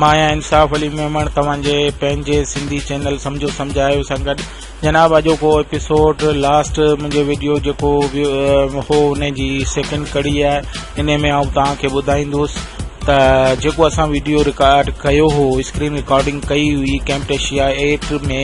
مان آهيان انصاف علي ميمڻ توهان جي پنهنجي سنڌي چينل سمجهو سمجهايو سان گڏ جناب اڄوڪو ايپيسوڊ لاسٽ منهنجي وڊيو جيڪو هو ان جي سيڪنڊ ڪڙي آهي انهي ۾ آئون توهان کي ٻڌائيندوس ته جيڪو اسان وڊيو رڪارڊ ڪيو هو اسڪرين رڪارڊنگ ڪئي هئي ڪيمپٽيشيا ايٽ ۾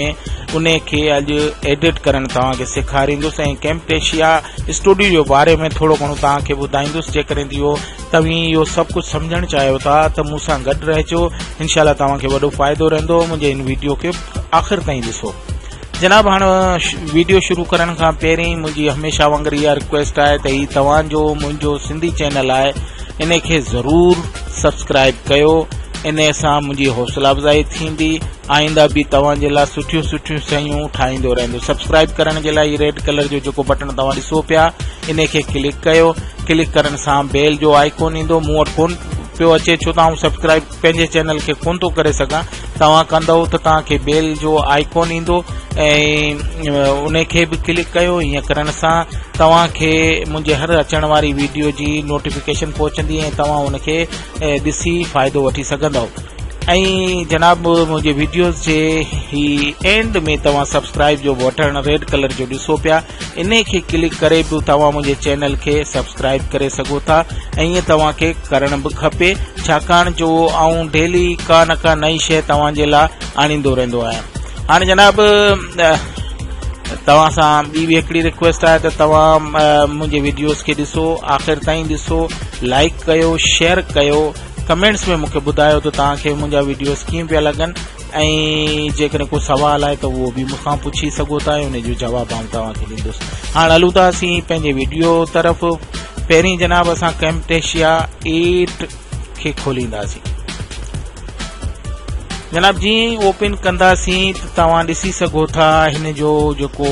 ان کي اڄ ايڊٽ ڪرڻ توهان کي سيکاريندوس ۽ ڪيمپٽيشيا اسٽوڊيو جي باري ۾ ٿورو گهڻو توهان کي ٻڌائيندوس جيڪڏهن اهو توهين اهو سڀ ڪجهه سمجهڻ چاهيو ٿا ته مون سان گڏ رهجو انشاء الله توهان کي وڏو فائدو رهندو منهنجي هن ويڊيو کي آخر تائين ڏسو جناب هاڻ ويڊيو شروع ڪرڻ کان پهرين منهنجي هميشه وانگر اها رڪويسٽ آهي ته هي توهان جو منهنجو سنڌي چينل آهي ان کي ضرور سبسڪرائب ڪيو ان سان منهنجي حوصله افزائي ٿيندي آئنده به توهان جي لاء سٺيون سٺيون شيون ٺاهيندو رهندو سبسڪرائب ڪرڻ جي لاء ريڊ ڪلر جو جيڪو بٽڻ توهان ڏسو پيا ان کي ڪلڪ ڪيو ڪلڪ ڪرڻ سان بيل جو آئيڪون ايندو مون وٽ ڪون پيو اچي ڇو ته آئون سبسڪرائب پنهنجي چينل کي ڪون ٿو ڪري سگهان توهان ڪندو ته توهان کي بيل جو آئيڪون ايندو ۽ ان کي به ڪلڪ ڪيو ائين ڪرڻ سان توهان کي منهنجي هر اچڻ واري ويڊيو جي نوٽيفڪيشن پهچندي ۽ توهان ان کي ڏسي فائدو وٺي سگهندو ۽ جناب منهنجي ويڊيوز جي هي اينڊ ۾ توهان سبسڪرائب جو بٽڻ ريڊ ڪلر جو ڏسو پيا انهي کي ڪلڪ ڪري به توهان منهنجي چينل کي سبسڪرائب ڪري سگهو ٿا ۽ ائين توهان کي ڪرڻ به کپي ڇاڪاڻ جو آئون ڊيلي ڪا نه ڪا نئي شيء توهان جي لاء آڻيندو رهندو آهيان هاڻي جناب توهان سان ٻي به هڪڙي رڪويسٽ آهي ته توهان منهنجي ويڊيوز کي ڏسو آخر تائين ڏسو لائڪ ڪيو شيئر ڪيو ڪمينٽس ۾ مونکي ٻڌايو ته توهان کي منهنجا ويڊيوز ڪيئن پيا لڳن ۽ جيڪڏهن ڪو سوال آهي ته اهو به مون کان پڇي سگهو ٿا ۽ ان جو جواب آئون توهان کي ڏيندس هاڻ هلون ٿا اسين پنهنجي ويڊيو طرف پهرين جناب اسان ڪيمٽيشيا ايٽ کي کولينداسين جناب جي اوپن ڪنداسين ته توهان ڏسي سگهو ٿا هن جو جيڪو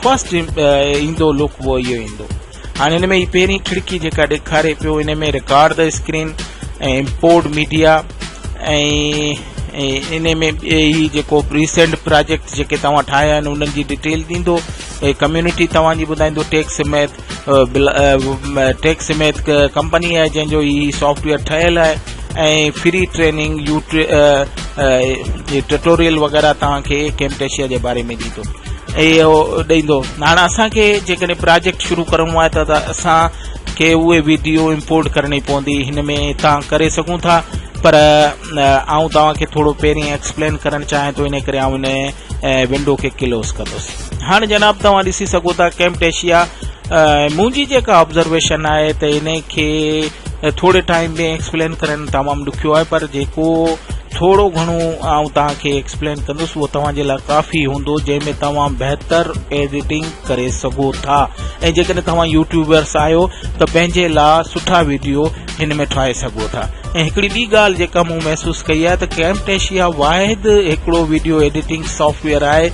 فرسٽ ايندو لوڪ اهو اهو ايندو هاڻي هن ۾ هي پهرين کڙڪي جيڪا ڏيکاري پيو ان ۾ رڪارڊ ته اسڪرين ۽ امپورٽ ميڊيا ۽ ان ۾ هي جيڪو ريسنٽ پراجيڪٽ جيڪي توهان ٺاهيا آهن انهن جي ڊيٽيل ڏيندو ۽ ڪميونٽي توهان جي ٻڌائيندو ٽيڪس سميت ٽيڪس سميت ڪمپني آهي جنهن جو هي سافٽويئر ٺهيل آهي ۽ فري ٽريننگ ٽٽوريل وغيره توهان کي ڪيمٽيشيا جي باري ۾ ڏيندو اهو ڏيندو هاڻ اسان کي جيڪڏهن پراجيڪٽ شروع ڪرڻو آهي ته اسان کي اهي ويڊيو امپورٽ ڪرڻي پوندي هن ۾ تان ڪري سگهون ٿا پر آئون توهان کي ٿورو پهرين ايڪسپلين ڪرڻ چاهيان ٿو ان ڪري آئون ان ونڊو کي ڪلوز ڪندس هاڻ جناب توهان ڏسي سگهو ٿا ڪيمٽيشيا منهنجي جيڪا آبزرويشن آهي ته ان کي ٿوري ٽائم ۾ ايڪسپلين ڪرڻ تمام ڏکيو آهي پر جيڪو ٿورو گهڻو آئون تان کي ايڪسپلين ڪندس اهو توهان جي لاء ڪافي هوندو جنهن ۾ توهان بهتر ايڊيٽنگ ڪري سگهو ٿا ۽ جيڪڏهن توهان يوٽيوبرس آهيو ته پنهنجي لاء سٺا ويڊيو هن ۾ ٺاهي سگهو ٿا ۽ هڪڙي ٻي ڳالهه جيڪا مون محسوس ڪئي آهي ته ڪيمٽيشيا واحد هڪڙو ويڊيو ايڊيٽنگ سافٽويئر آهي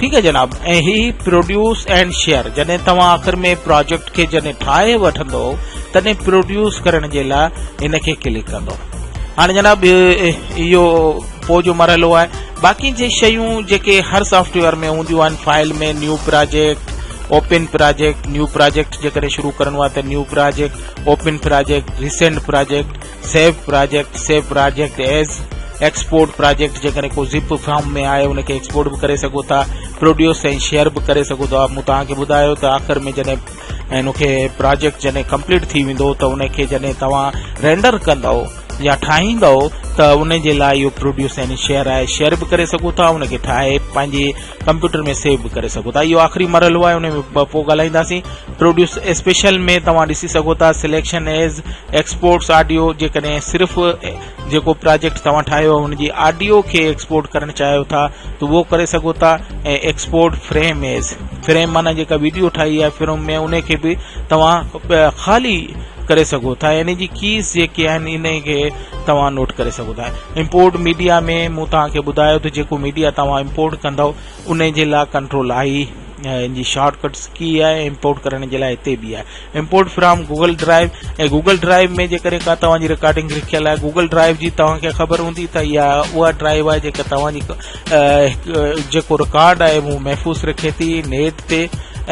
ٺيڪ آهي جناب ۽ هي پروڊيوس اينڊ شيئر جڏهن توهان آخر ۾ پراجيڪٽ کي جڏهن ٺاهي وٺندو تڏهن پروڊيوس ڪرڻ جي لاء ان کي ڪلڪ ڪندو هاڻي جناب اهو پوء جو مرحلو آهي باقي جي شيون جيڪي هر سافٽ ويئر ۾ هونديون آهن file ۾ new project open project new project جيڪڏهن شروع ڪرڻو آهي ته new project open project recent project save project, Save Project، as export project جيڪڏهن ڪو زپ فارم ۾ آهي ان کي ايڪسپورٽ به ڪري سگهو ٿا پروڊيوس ۽ شيئر به ڪري سگهو ٿا مون توهان کي ٻڌايو ته آخر ۾ جڏهن ان کي پراجيڪٽ جڏهن ڪمپليٽ ٿي ويندو ته ان کي جڏهن توهان رينڊر ڪندو يا ٺاهيندو ته ان جي لاء اهو پروڊيوس ۽ شيئر آهي شيئر به ڪري سگهو ٿا ان کي ٺاهي پنهنجي ڪمپيوٽر ۾ سيو به ڪري سگهو ٿا اهو آخري مرحلو آهي ان ۾ پوء ڳالهائينداسين پروڊيوس اسپيشل ۾ توهان ڏسي سگهو ٿا سليڪشن ايز ايڪسپورٽس آڊيو جيڪڏهن صرف جيڪو پراجيڪٽ توهان ٺاهيو هن جي آڊيو کي ايڪسپورٽ ڪرڻ چاهيو ٿا ته اهو ڪري سگهو ٿا ۽ ايڪسپورٽ فريم ايز فريم معنی جيڪا ويڊيو ٺاهي آهي فريم ۾ ان کي به توهان خالي ڪري سگهو ٿا يعني جي ڪيز جيڪي آهن ان کي توهان نوٽ ڪري سگهو ٿا امپورٽ ميڊيا ۾ مون توهان کي ٻڌايو ته جيڪو ميڊيا توهان امپورٽ ڪندو ان جي لاء ڪنٽرول آئي ان جي شارٽ ڪٽس ڪي آهي امپورٽ ڪرڻ جي لاء هتي به آهي import from Google drive ۽ Google drive ۾ جيڪڏهن کا توهان جي رڪارڊنگ رکيل آهي گوگل ڊرائيو جي توهان کي خبر هوندي ته اها اها ڊرائيو آهي جيڪا توهان جي جيڪو رڪارڊ آهي مون محفوظ رکي ٿي نيٽ تي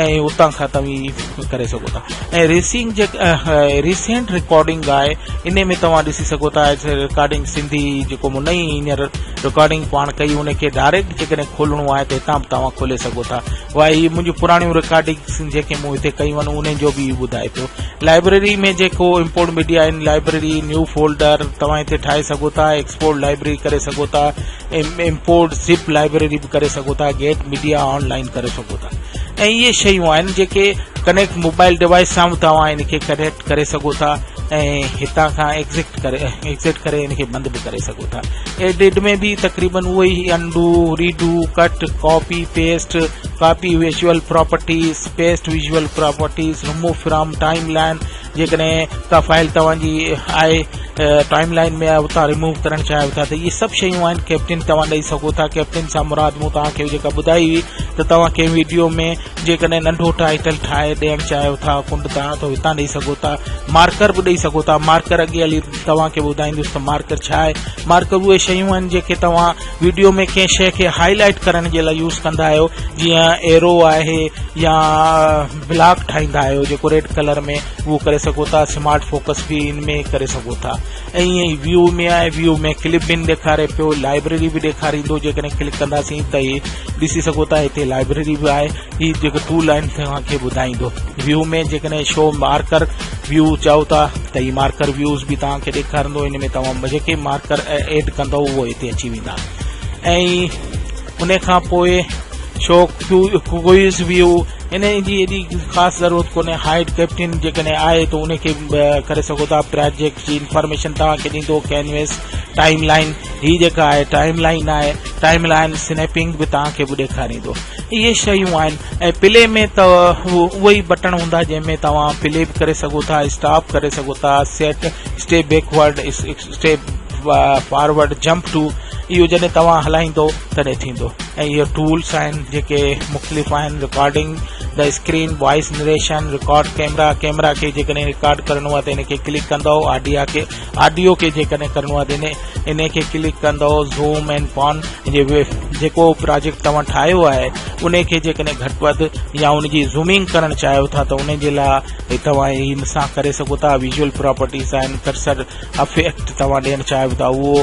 ۽ اتان کان توهين ڪري سگهو ٿا ۽ ريسنگ جيڪا ريسنٽ رڪارڊنگ آهي ان ۾ توهان ڏسي سگهو ٿا رڪارڊنگ سنڌي جيڪو مون نئي هينئر رڪارڊنگ پاڻ ڪئي ان کي ڊائريڪٽ جيڪڏهن کولڻو آهي ته هتان به توهان کولي سگهو ٿا وائي هي منهنجون پراڻيون رڪارڊنگس جيڪي مون هتي ڪيون آهن انهن جو به ٻڌائي پيو لائبرري ۾ جيڪو امپورٽ ميڊيا آهن لائبرري نيو فولڊر توهان هتي ٺاهي سگهو ٿا ايڪسپورٽ لائبرري ڪري سگهو ٿا امپورٽ زپ لائبريري به ڪري سگهو ٿا گيٽ ميڊيا آن لائن ڪري سگهو ٿا ۽ اهي شيون آهن جيڪي ڪنيڪٽ موبائل ڊوائس سان توهان ان کي ڪنيڪٽ ڪري سگهو ٿا ۽ هتان کان ايگزٽ ڪري ايگزٽ ڪري ان کي بند به ڪري سگهو ٿا ايڊيٽ ۾ به تقريبن اهو ئي undo redo cut copy paste copy visual properties paste visual properties remove from timeline جيڪڏهن ڪا فائل توهان جي آء ٽائيم لائن ۾ اتان ريموو ڪرڻ چاهيو ٿا ته اهي سڀ شيون آهن ڪيپٽن توهان ڏئي سگهو ٿا ڪيپٽن سان مراد مون توهان کي جيڪا ٻڌائي هئي ته توهان کي ويڊيو ۾ جيڪڏهن ننڍو ٽائيٽل ٺاهي ڏيڻ چاهيو ٿا ڪنڊ تان ته هتان ڏئي سگهو ٿا مارڪر به ڏئي سگهو ٿا مارڪر اڳي هلي توهان کي ٻڌائيندس ته مارڪر ڇا آهي مارڪر اهي شيون آهن جيڪي توهان ويڊيو ۾ ڪنهن شيء کي هاء لائٽ ڪرڻ جي لاء يوز ڪندا آهيو جيئن ايرو آهي يا بلاڪ ٺاهيندا آهيو جيڪو ريڊ ڪلر ۾ اهو ڪري سگهو ٿا سمارٽ فوڪس به ان ۾ ڪري سگهو ٿا ۽ ائين ويو ۾ آهي ويو ۾ ڪلپ بن ڏيکاري پيو لائبريري به ڏيکاريندو جيڪڏهن ڪلڪ ڪنداسين ته هي ڏسي سگهو ٿا هتي لائبريري به آهي هي جيڪو ٽول آهن توهان کي ٻڌائيندو ويو ۾ جيڪڏهن شو مارڪر ويو چاهو ٿا ته هي مارڪر ويوز به توهان کي ڏيکارندو ان ۾ توهان جيڪي مارڪر ايڊ ڪندو اهو هتي اچي ويندا ۽ ان کان پوء شو ڪوئز ويو انهيء جي ايڏي خاص ضرورت ڪونهي هائيڊ ڪيپٽن جيڪڏهن آهي ته انهي کي به ڪري سگهو ٿا پراجيڪٽ جي انفارميشن توهان کي ڏيندو ڪينويس ٽائيم لائين هي جيڪا آهي ٽائيم لائين آهي ٽائيم لائين سنيپنگ به توهان کي به ڏيکاريندو اهي شيون آهن ۽ پلي ۾ ته اهي ئي بٽڻ هوندا جنهن ۾ توهان پلي به ڪري سگهو ٿا اسٽاپ ڪري سگهو ٿا سيٽ اسٽي backward step forward jump to اهو جڏهن توهان هلائيندو تڏهن ٿيندو ۽ اهي ٽولس آهن جيڪي مختلف آهن recording the screen voice narration record camera camera کي جيڪڏهن رڪارڊ ڪرڻو آهي ته ان کي ڪلڪ ڪندو آڊيا کي آڊيو کي جيڪڏهن ڪرڻو آهي ته ان کي ڪلڪ ڪندو زوم اينڊ پان جيڪو پراجيڪٽ توهان ٺاهيو آهي ان کي جيڪڏهن گهٽ وڌ يا ان جي زومنگ ڪرڻ چاهيو ٿا ته ان جي لاء توهان هي سان ڪري سگهو ٿا ويزول پراپرٽيز آهن ڪرسر افيڪٽ توهان ڏيڻ چاهيو ٿا اهو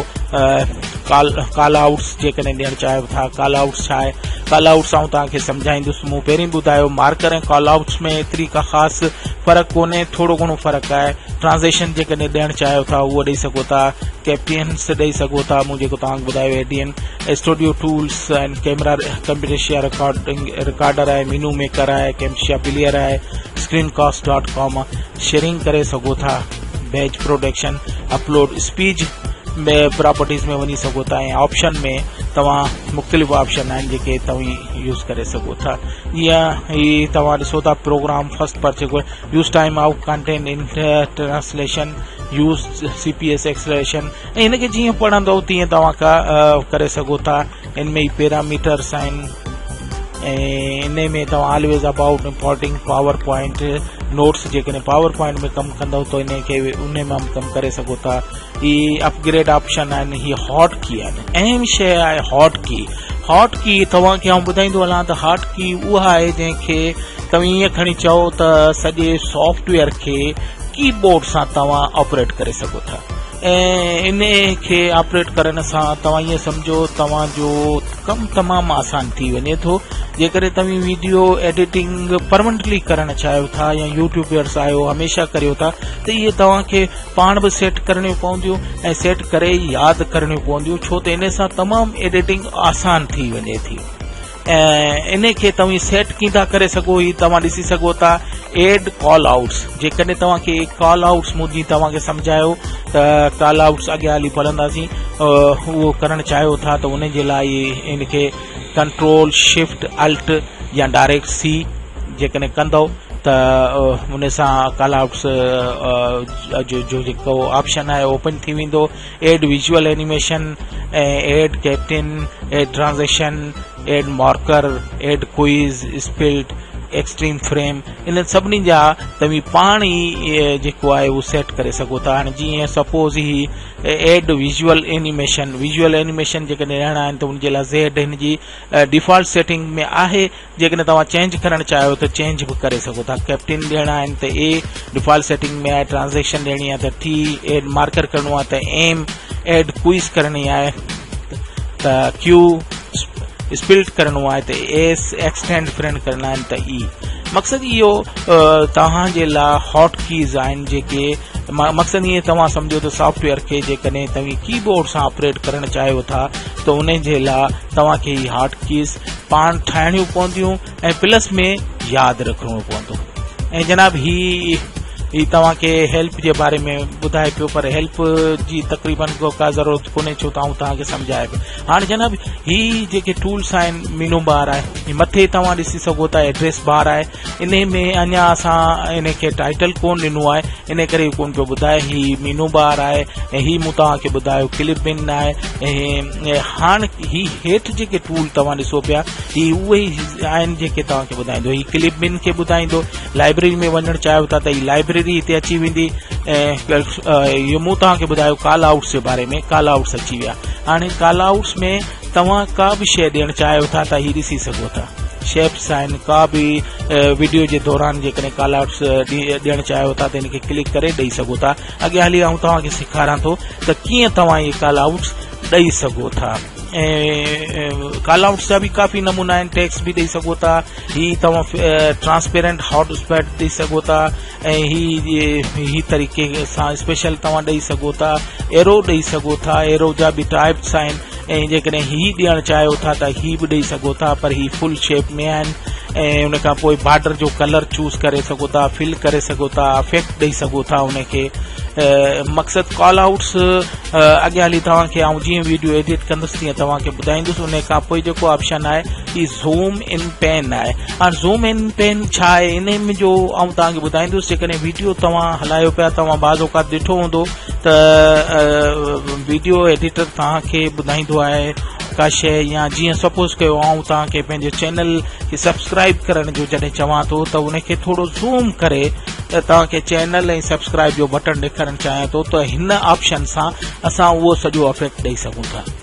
ڪال ڪال آئوٽس جيڪڏهن ڏيڻ چاهيو ٿا ڪال آئوٽس ڇا آهي ڪال آئوٽس آئون توهان کي سمجهائيندس مون پهرين ٻڌايو مارڪر ۽ ڪال آئوٽس ۾ ايتري ڪا خاص فرق ڪونهي ٿورو گهڻو فرق آهي ٽرانزيڪشن جيڪڏهن ڏيڻ چاهيو ٿا اهو ڏيئي سگهو ٿا ڪيپينس ڏيئي سگهو ٿا مون جيڪو توهان ٻڌايو A D N studio tools آهن ڪيمرا ڪمپيوٽيشيا رڪارڊنگ رڪارڊر آهي مينو ميڪر آهي ڪيمشيا پليئر آهي screen caste dot com sharing ڪري سگهو ٿا بيچ پروڊڪشن اپلوڊ اسپيج ۾ پراپرٽيز ۾ وڃي سگهو ٿا ۽ آپشن ۾ توهان مختلف آپشن آهن جيڪي توهين يوز ڪري سگهو ٿا جيئن هي توهان ڏسو ٿا پروگرام فرسٽ پر جيڪو يوز ٽائيم آؤٽ ڪنٽينٽ ان translation use C P S acceleration ۽ هن کي جيئن پڙهندو تيئن توهان ڪا ڪري سگهو ٿا ان ۾ ئي پيراميٽرس آهن ۽ ان ۾ توهان always about importing PowerPoint notes جيڪڏهن پاور پوائنٽ ۾ ڪم ڪندو ته ان کي ان مان به ڪم ڪري سگهو ٿا هي اپگريڊ آپشن آهن هي هاٽ ڪي آهن اهم شيء آهي هاٽ ڪي هاٽ ڪي توهان کي آئون ٻڌائيندو هلان ته هاٽ ڪي اها آهي جنهن کي توهان ائين کڻي چئو ته سڄي سافٽويئر کي ڪي بورڊ سان توهان آپريٽ ڪري سگهو ٿا انهيء کي آپريٽ ڪرڻ سان توهان ائين سمجهو توهان جو ڪم تمام آسان ٿي وڃي ٿو جيڪڏهن توهين ويڊيو ايڊيٽنگ پرمنٽلي ڪرڻ چاهيو ٿا يا يوٽيوبرس آهيو هميشه ڪريو ٿا ته اهي توهان کي پاڻ به سيٽ ڪرڻيون پونديون ۽ سيٽ ڪري ياد ڪرڻيون پونديون ڇو ته ان سان تمام ايڊيٽنگ آسان ٿي وڃي ٿي انهي کي توهين سيٽ ڪين ٿا ڪري سگهو هي توهان ڏسي سگهو ٿا ايڊ ڪال آئوٽس جيڪڏهن توهان کي ڪال آئوٽس مون جي توهان کي سمجهايو ته ڪال آئوٽس اڳيان هلي پڙهنداسين اهو ڪرڻ چاهيو ٿا ته ان جي لاء ان کي ڪنٽرول شفٽ الٽ يا ڊائريڪٽ سي جيڪڏهن ڪندو ته ان سان ڪال آئوٽس جو جيڪو آپشن آهي اوپن ٿي ويندو add visual animation, add caption, add transition, add marker, add quiz, split, extreme frame انهن سڀني جا توهين پاڻ ئي جيڪو آهي اهو سيٽ ڪري سگهو ٿا هاڻي جيئن سپوز هي add visual animation visual animation جيڪڏهن رهڻا آهن ته ان جي لاء زيڊ هن جي ڊيفالٽ سيٽنگ ۾ آهي جيڪڏهن توهان چينج ڪرڻ چاهيو ته چينج به ڪري سگهو ٿا ڪيپٽين ڏيڻا آهن ته اي ڊيفالٽ سيٽنگ ۾ آهي ٽرانزيڪشن ڏيڻي آهي ته ٽي ايڊ مارڪر ڪرڻو آهي ته ايم ايڊ ڪوئز ڪرڻي آهي ته ڪيو اسپلٽ ڪرڻو آهي ته ايس ايڪسٽينڊ فرينڊ ڪرڻا آهن ته اي مقصد اهو توهان جي لاء هاٽ ڪيز آهن جيڪي مقصد ائين توهان سمجھو ته سافٽويئر کي جيڪڏهن توهان ڪي بورڊ سان آپريٽ ڪرڻ چاهيو ٿا ته ان جي لاء توهان کي هاٽ ڪيز پاڻ ٺاهڻيون پونديون ۽ پلس ۾ ياد رکڻو پوندو ۽ جناب هي هي توهان کي هيلپ جي باري ۾ ٻڌائي پيو پر هيلپ جي تقريبن کو ڪا ضرورت ڪونهي ڇو ته آئون توهان کي سمجهايا پيو هاڻي جناب هي جيڪي ٽولس آهن مينو بار آهي مٿي توهان ڏسي سگهو ٿا ايڊريس بار آهي انهي ۾ اڃا اسان انهي کي ٽائيٽل ڪون ڏنو آهي انهي ڪري ڪون پيو ٻڌائي هي مينو بهار آهي ۽ هي مون توهان کي ٻڌايو ڪلپ بن آهي ۽ هاڻ هي هيٺ جيڪي ٽول توهان ڏسو پيا هي اهي ئي آهن جيڪي توهان کي ٻڌائيندو هي ڪلپ بن کي ٻڌائيندو لائبريري ۾ وڃڻ چاهيو ٿا ته هي لائبريري هتي اچي ويندي ۽ اهي مون توهان کي ٻڌايو ڪال آئوٽس جي باري ۾ ڪال آئوٽس اچي ويا هاڻي ڪال آئوٽس ۾ توهان ڪا به شيء ڏيڻ چاهيو ٿا ته هي ڏسي سگهو ٿا شيپس آهن ڪا به وڊيو جي دوران جيڪڏهن ڪال آرٽس ڏيڻ چاهيو ٿا ته ان کي ڪلڪ ڪري ڏئي سگهو ٿا اڳيان هلي آئون توهان کي سيکاران ٿو ته ڪيئن توهان اهي ڪال آرٽس ڏئي سگهو ٿا ڪال آرٽس جا به ڪافي نمونا آهن ٽيڪس به ڏئي سگهو ٿا هي توهان ٽرانسپيرنٽ هاٽ اسپيٽ ڏئي سگهو ٿا ۽ هي هي طريقي سان اسپيشل توهان ڏئي سگهو ٿا ايرو ڏئي سگهو ٿا ايرو جا به ٽائپس آهن ۽ جيڪڏهن هي ڏيڻ چاهيو ٿا ته هي به ڏئي سگهو ٿا پر هي فل شيپ ۾ آهن ۽ ان کان پوء بارڊر جو ڪلر چوز ڪري سگهو ٿا فل ڪري سگهو ٿا افيڪٽ ڏئي سگهو ٿا ان کي مقصد ڪال آؤٽس اڳيان هلي توهان کي آئون جيئن ويڊيو ايڊيٽ ڪندس تيئن توهان کي ٻڌائيندس ان کان پوء جيڪو آپشن آهي هي زوم ان پين آهي هاڻ زوم ان پين ڇا آهي انهن جو آئون توهان کي ٻڌائيندس جيڪڏهن ويڊيو توهان هلايو پيا توهان بعض اوقات ڏٺو هوندو ته ويڊيو ايڊيٽر توهان کي ٻڌائيندو آهي ڪا شيء يا جيئن سپوز ڪيو آئون توهان کي پنهنجي چينل کي سبسڪرائب ڪرڻ جو جڏهن چوان ٿو ته ان کي ٿورو زوم ڪري توهان کي چينل ۽ سبسڪرائب جو بٽن ڏيکارڻ چاهيان ٿو ته هن آپشن سان اسان اهو سڄو افيڪٽ ڏيئي سگهون ٿا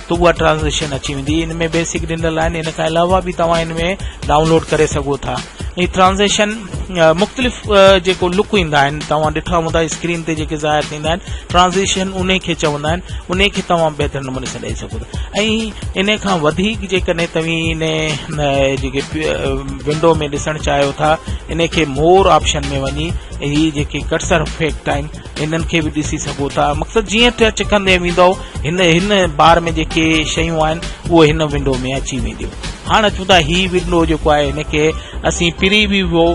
ته اها ٽرانزيشن اچي ويندي ان ۾ بيسڪ ڏنل آهن ان کان علاوه به توهان ان ۾ ڊائونلوڊ ڪري سگهو ٿا هي ٽرانزيشن مختلف جيڪو لڪ ايندا آهن توهان ڏٺا هوندا اسڪرين تي جيڪي ظاهر ٿيندا آهن ٽرانزيشن ان کي چوندا آهن ان کي توهان بهتر نموني سان ڏئي سگهو ٿا ۽ ان کان وڌيڪ جيڪڏهن توهين ان جيڪي ونڊو ۾ ڏسڻ چاهيو ٿا ان کي مور آپشن ۾ وڃي هي جيڪي ڪٽسر افيڪٽ آهن انهن کي به ڏسي سگهو ٿا مقصد جيئن ٽچ ڪندي ويندو هن هن بار ۾ جيڪي شيون آهن اهو هن ونڊو ۾ اچي وينديون هاڻ اچون ٿا هي ونڊو جيڪو آهي هن کي اسين پري وي وو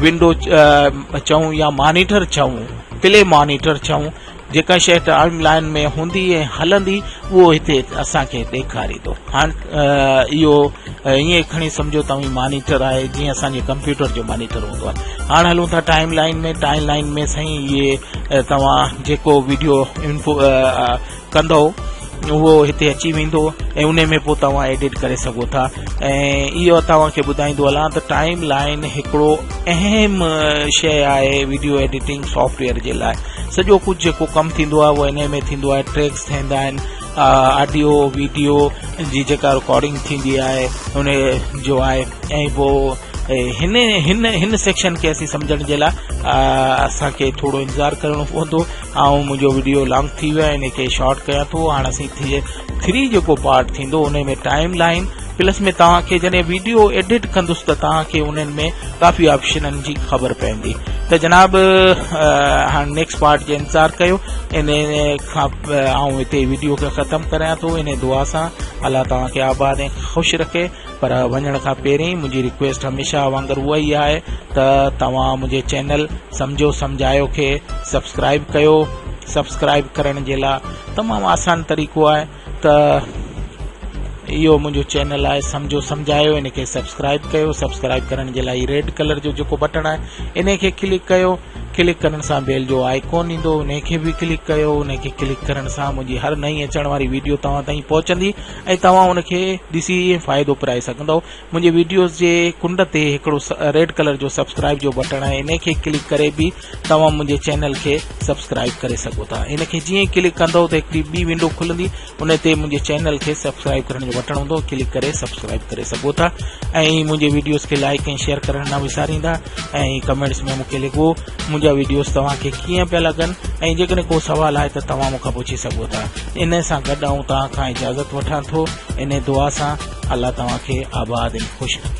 ونڊو چئون يا مانيٽر چئون پلي مانيٽر چئون جيڪا شيء ٽائم لائن ۾ هوندي ۽ هلندي اهو هتي اسانکي ڏيکاري ٿو هاڻ اهو ائين کڻي سمجهو توهين مانيٽر آهي جيئن اسان جي ڪمپيوٽر جو مانيٽر هوندو آهي هاڻ هلون ٿا ٽائيم لائين ۾ ٽائيم لائين ۾ سائين اهي توهان جيڪو ويڊيو انفو ڪندو اهو هتي اچي ويندو ۽ ان ۾ پوء توهان ايڊٽ ڪري سگهو ٿا ۽ اهو توهان کي ٻڌائيندو هلان ته ٽائيم لائين هڪڙو اهم شيء آهي ويڊيو ايڊيٽنگ سافٽويئر جي لاء سڄو ڪجهه جيڪو ڪم ٿيندو آهي اهو ان ۾ ٿيندو آهي ٽريڪس ٿيندا آهن آڊيو ويڊيو جي جيڪا رڪارڊنگ ٿيندي آهي ان جو آهي ۽ پوء هن هن هن سيڪشن کي اسين سمجھڻ جي لاء اسان کي ٿورو انتظار ڪرڻو پوندو آئون منهنجو ويڊيو لانگ ٿي ويو ان کي شارٽ ڪيان ٿو هاڻ اسين ٿي ٿري جيڪو پارٽ ٿيندو ان ۾ ٽائيم لائين پلس ۾ توهان کي جڏهن ويڊيو ايڊٽ ڪندس ته توهان کي انهن ۾ ڪافي آپشنن جي خبر پوندي ته جناب هاڻ نيڪسٽ پارٽ جو انتظار ڪيو ان کان آئون هتي ويڊيو کي ختم ڪريان ٿو انهي دعا سان الله توهان کي آباد ۽ خوش رکي پر وڃڻ کان پهرين منهنجي رڪويسٽ هميشه وانگر اها ئي آهي ته توهان منهنجي چينل سمجهو سمجهايو کي سبسڪرائب ڪيو سبسڪرائب ڪرڻ جي لاء تمام آسان طريقو آهي ته اهو منهنجو چينل آهي سمجهو سمجهايو ان کي سبسڪرائب ڪيو سبسڪرائب ڪرڻ جي لاء ريڊ ڪلر جو جيڪو بٽڻ آهي ان کي ڪلڪ ڪيو ڪلڪ ڪرڻ سان بيل جو آئيڪون ايندو انهي کي به ڪلڪ ڪيو انهي کي ڪلڪ ڪرڻ سان منهنجي هر نئين اچڻ واري ويڊيو توهان تائين پهچندي ۽ توهان ان کي ڏسي فائدو پرائي سگهندو منهنجي ويڊيوز جي ڪنڊ تي هڪڙو ريڊ ڪلر جو سبسڪرائب جو بٽڻ آهي انهي کي ڪلڪ ڪري به توهان منهنجي چينل کي سبسڪرائب ڪري سگهو ٿا ان کي جيئن ڪلڪ ڪندو ته هڪڙي ٻي ونڊو کلندي ان تي منهنجي چينل کي سبسڪرائب ڪرڻ جو بٽڻ هوندو ڪلڪ ڪري سبسڪرائب ڪري سگهو ٿا ۽ منهنجي ويڊيوز کي لائڪ ۽ شيئر ڪرڻ نه وساريندا ۽ ڪمينٽس ۾ مونکي لکو منهنجا ويڊيوز توهان کي ڪيئن پيا لڳن ۽ جيڪڏهن ڪو سوال آهي ته توهان مونکان پڇي سگهو ٿا ان سان گڏ آئون توهان کان اجازت وٺان ٿو ان دعا سان الله توهان کي آباد ۽ خوش رکي